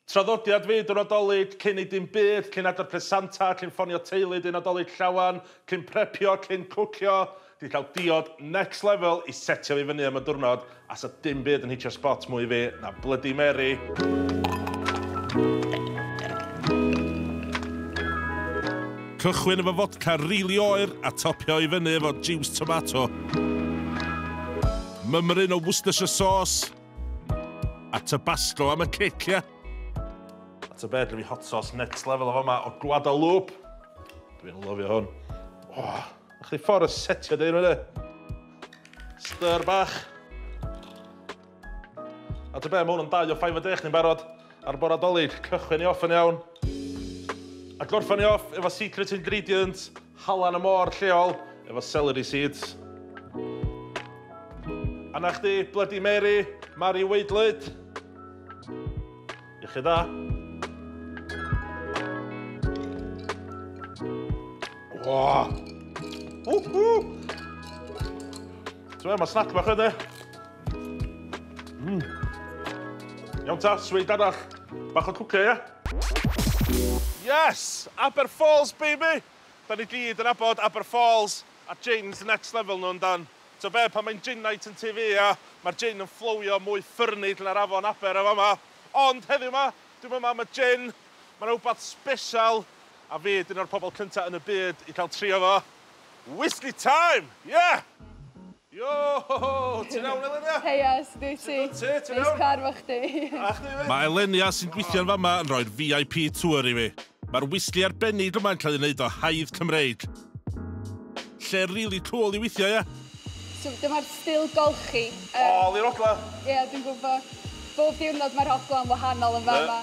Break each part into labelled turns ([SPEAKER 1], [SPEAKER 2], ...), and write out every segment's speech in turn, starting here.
[SPEAKER 1] Traddodiad fyd y Nadolig, cyn ei dim byd, cyn adar pres Santa, cyn ffonio teulu dyn Nadolig llawen, cyn prepio, cyn cwcio, di cael diod next level i setio fi fyny am y diwrnod a sa dim byd yn hitio spot mwy fi na blydi Mary. Cychwyn efo fodca rili oer a topio i fyny efo jiws tomato. Mymryn o Worcestershire sauce. A tabasco am y cic, ia? A ta beth, fi hot sauce next level o fama o Guadalupe. Dwi'n lyfio hwn. Oh, a chdi ffordd y setio dyn nhw, Styr bach. A ta beth, mae hwn yn dau o ffaif y dech ni'n barod ar bora dolyg. Cychwyn i off yn iawn. A gorffan i off efo secret ingredient Halan y môr lleol efo celery seeds. A 'na chdi, Bloody Mary, Mari Waedlyd. Iechyd dda. Ww! Ww! Ti'n gweld, mae snack bach yna. Mm. Iawn ta, sweet arall. Bach o cwcio, ia? Yes! Aber Falls, baby! Da ni gyd yn abod Aber Falls a jins next level nhw, yndan? Ti'n be, pan mae'n gin night yn TV, ia, mae'r gin yn fflowio mwy ffyrnig na'r afon Aber yn fama. Ond heddiw ma, dwi'n yma am y gin, mae yna wbath special, a fi ydy un o'r pobl cynta yn y byd i cael trio fo. Whisky time! Yeah! Yo! Ti'n iawn Elenia? Heia, sut wyt ti? Sut wyt ti? Ti'n iawn? Neis cwarfo chdi. A chdi 'fyd. Mae Elenia sy'n gweithio'n fama yn rhoi'r VIP tour i fi. Mae'r wisli arbennig yma'n cael ei wneud o haidd Cymreig. Lle rili cwl i weithio, ie? So dyma'r stil golchi. Ôl i'r ogla! Ie, dwi'n gwybod. Bob diwrnod mae'r ogla'n wahanol yn fama.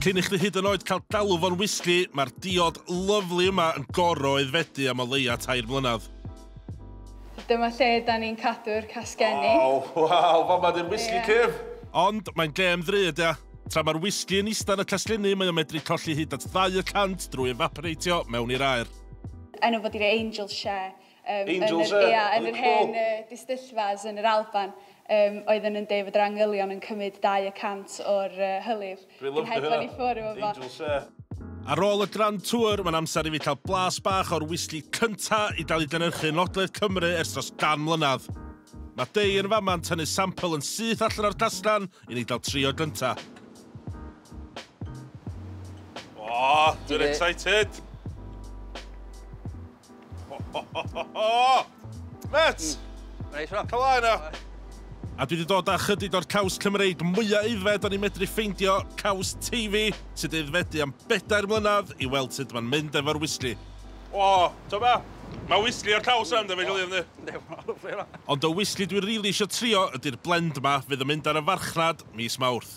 [SPEAKER 1] Cyn i chdi hyd yn oed cael galw fo'n wisli, mae'r diod lyfli yma yn gorfod aeddfedu am o leia tair mlynedd. Dyma lle da ni'n cadw'r casgenni. Waw, waw, fama di'r whisky cyf! Ond mae'n gêm ddrud, ia. Tra mae'r whisky yn ista yn y casglenni, mae o'n medru colli hyd at ddau y cant drwy efaporeitio mewn i'r aer. Enw fo di'r Angel Share. Yym, Angel yn Share? Ia, yn yr hen uh, distyllfas yn yr Alban, um, oedden nhw'n deud fod yr angylion yn cymryd dau y cant o'r uh, hylif. Dwi'n lyfio hynna. Dwi'n i ffwr efo fo. Angel Shea. Ar ôl y Grand Tour, mae'n amser i fi cael blas bach o'r whisky cynta i gael ei gynhyrchu yn Ogledd Cymru ers dros gan mlynedd. Mae Dei yn fama yn tynnu sampl yn syth allan o'r castan i ni gael trio gynta. O, dwi'n excited! Met! Reit, rhan. Cala yna. A dwi wedi dod â chydig o'r caws Cymreig mwyaf aeddfed o'n i'n medru ffeindio, caws Teifi, sydd wedi aeddfedu am bedair mlynedd, i weld sut mae'n mynd efo'r wisli. O, to be? Mae wisli o'r caws yn dyfod i ynddi? Ond y wisli dwi rili eisiau trio ydy'r blend ma fydd yn mynd ar y farchnad mis Mawrth.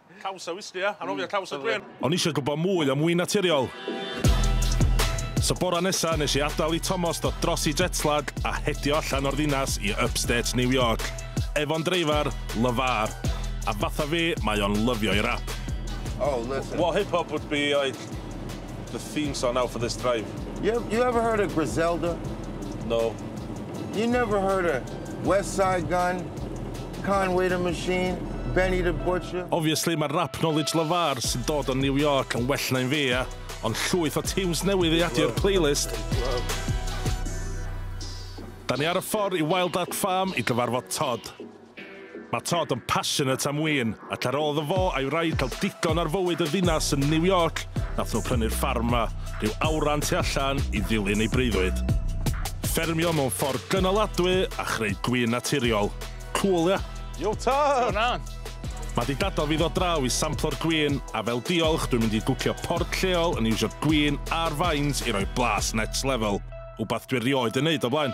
[SPEAKER 1] Caws a wisgi, ia? Anofio caws a gwên. O'n i eisiau gwybod mwy am win naturiol. So bora nesa nes i adael i Tomos dod dros i jetlag a hedio allan o'r ddinas i upstate New York. Efo'n dreifar, Levar. A fatha fi, mae o'n lyfio i rap. Oh, listen. What hip hop would be like The theme song now for this drive. You, you ever heard of Griselda? No. You never heard of West Side Gun, Conway the Machine, Benny the Butcher? Obviously, mae rap knowledge LeVar sy'n dod o New York yn well na'n fi, ia. Ond llwyth o tunes newydd i adio'r playlist. Da ni ar y ffordd i Wild Art Farm i gyfarfod Todd. Mae Todd yn passionate am win, ac ar ôl iddo fo a'i wraig cael digon ar fywyd y ddinas yn New York, nath nhw prynu'r ffarm 'ma, rhyw awran tu allan i ddilyn ei breuddwyd. Ffermio mewn ffordd gynaladwy a chreu gwin naturiol. Cŵl, ia? Yo Todd! Go on! Mae 'di dadal fi ddod draw i samplo'r gwin, a fel diolch dwi'n mynd i gwcio port lleol yn iwsio gwin a'r faint i roi blas next level, wbath dwi rioed yn neud o blaen.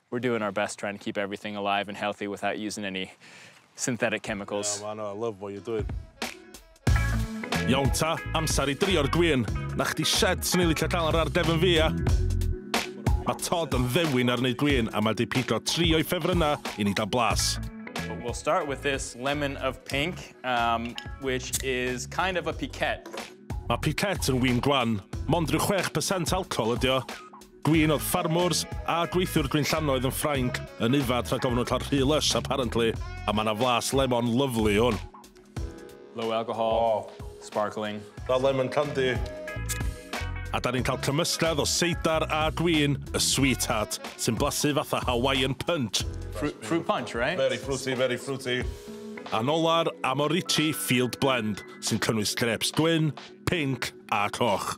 [SPEAKER 1] We're doing our best trying to keep everything alive and healthy without using any synthetic chemicals. Yeah, man, I love what you're doing. Iawn ta, amser i drio'r gwyn. Na chdi shed sy'n ei licio cael ar ar defn fi, ia? Mae Todd yn ddewin ar wneud gwyn a mae di pigo tri o'i ffefrynnau i ni gael blas. We'll start with this lemon of pink, um, which is kind of a piquette. Mae piquette yn wyn gwan, mond rhyw 6% alcohol ydi o. Gwin oedd farmwrs a gweithiwr gwinllannoedd yn Ffrainc yn yfad rhag ofn wlla'r rhy lush apparently a ma na flas lemon lyfli hwn. Low alcohol. Waw. Sparkling. That lemon candy. A da ni'n cael cymysgedd o seidar a gwin y sweetheart sy'n blasu fatha Hawaiian punch. Fruit, fruit punch, right? Very fruity, very fruity. A'n ola'r Amorici Field Blend sy'n cynnwys grapes gwyn, pinc a coch.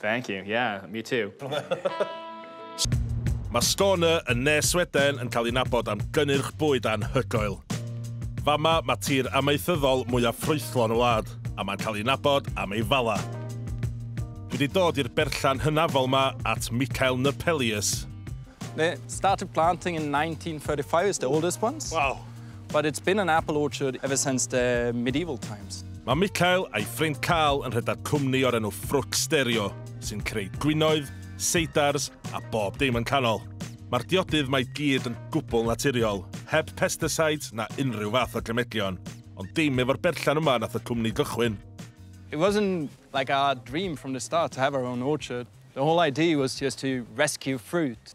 [SPEAKER 1] Thank you, yeah, me too. Mae Skåne yn ne Sweden yn cael ei nabod am gynnyrch bwyd anhygoel. Fama, mae tir amaethyddol mwyaf ffrwythlon y wlad, a mae'n cael ei nabod am ei fala. Dwi wedi dod i'r berllan hynafol ma at Mikael Nurpelius. They started planting in 1935, it's the oldest ones. Wow. But it's been an apple orchard ever since the medieval times. Mae Michael a'i ffrind Carl yn rhedeg cwmni o'r enw Ffrwc Stereo, sy'n creu gwinoedd, seidars a bob dim yn canol. Mae'r diodydd mae gyd yn gwbl naturiol, heb pesticides na unrhyw fath o gemedion. Ond dim efo'r berllan yma nath y cwmni gychwyn. It wasn't like our dream from the start to have our own orchard. The whole idea was just to rescue fruit.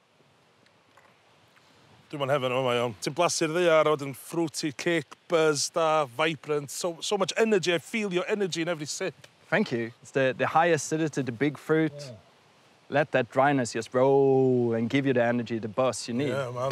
[SPEAKER 1] Dwi mo'n heaven yn fama iawn. Ti'n blasu'r ddaear a wedyn fruity kick, buzz da, vibrant, so so much energy, I feel your energy in every sip. Thank you. It's the the high acidity, the big fruit. Let that dryness just roll and give you the energy, the buzz you need. Yeah man.